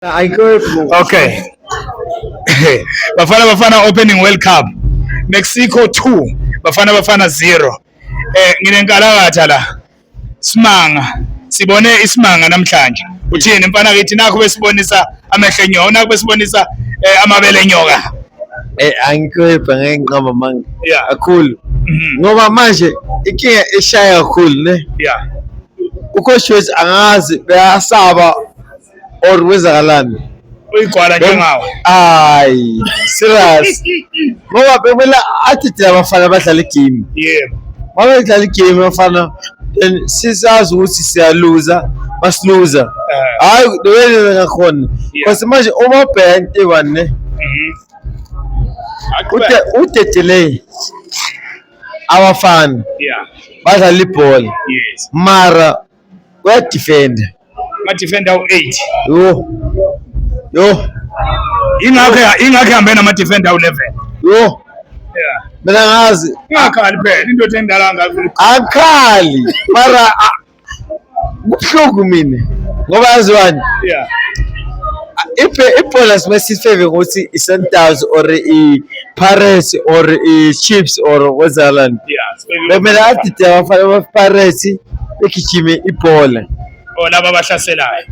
I go move. Okay. Bafana Bafana opening World Cup. Mexico 2, Bafana Bafana 0. Eh nginenkalakatha la. Simanga. Sibone isimanga namhlanje. Uthini mfana kithi nakho besibonisa amehlo enyoka, nakho besibonisa eh, amabele enyoka. Eh angikwepha ngeke ngiqamba manga. Yeah. Kakhulu. Mhm. Ngoba manje ikinga eshaya kakhulu ne. Yeah. Ukhoshiwezi angazi beyasaba or kwenzakalani uyigwala njengawo hayi serious ngoba bekumele athi thina abafana abadlala igame yebo uma bedlala igame abafana then sisazi ukuthi siyaluza masiluza Eh, hayi lowenza ngakhona Yeah. because manje uma ubheka into eyi-one ne mhm. Aqhubeke. ude- udedeley abafana Yeah, badlala ibhola yes. mara uyadifenda amadifenda awu-eight yho yho ingakho ingakho ihambe namadifenda awu-eleven yho mina ngazi ingakhali phela indoda endala angafuni akhali mara kubuhlungu mina ngoba yaziwani yeah ibhola simesifeve ngokuthi i-sundowns or Pirates or uh, Chiefs or Wazalani bekumele adide abafana bapirates begijime ibhola or oh, laba abahlaselayo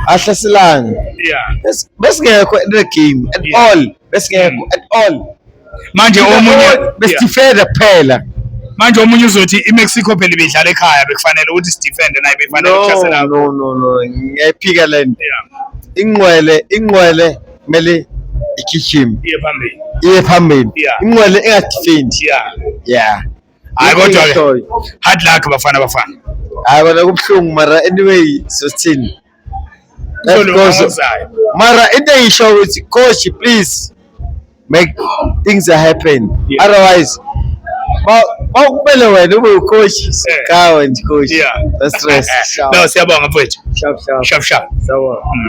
ahlaselani besingekho at the game at all besingekho mm. at all manje omunye besifeda kuphela manje omunye uzothi iMexico phela ibidlala ekhaya bekufanele ukuthi sidefende naye befanele ukuhlasela no no no ngiyayiphika lento ingqwele ingqwele kumele igijime iye phambili iye phambili inqwele engadifendi yeah yeah hayi kodwa ke hard luck bafana bafana hayi kodwa kubuhlungu mara anyway sosithini mara into engisho ukuthi coach please make things are happen yeah. otherwise Bawukumele wena ube ucoach sikawe nje coach. Yeah. That's stress. No, siyabonga mfowethu. Sharp sharp. Sharp sharp. Sawona.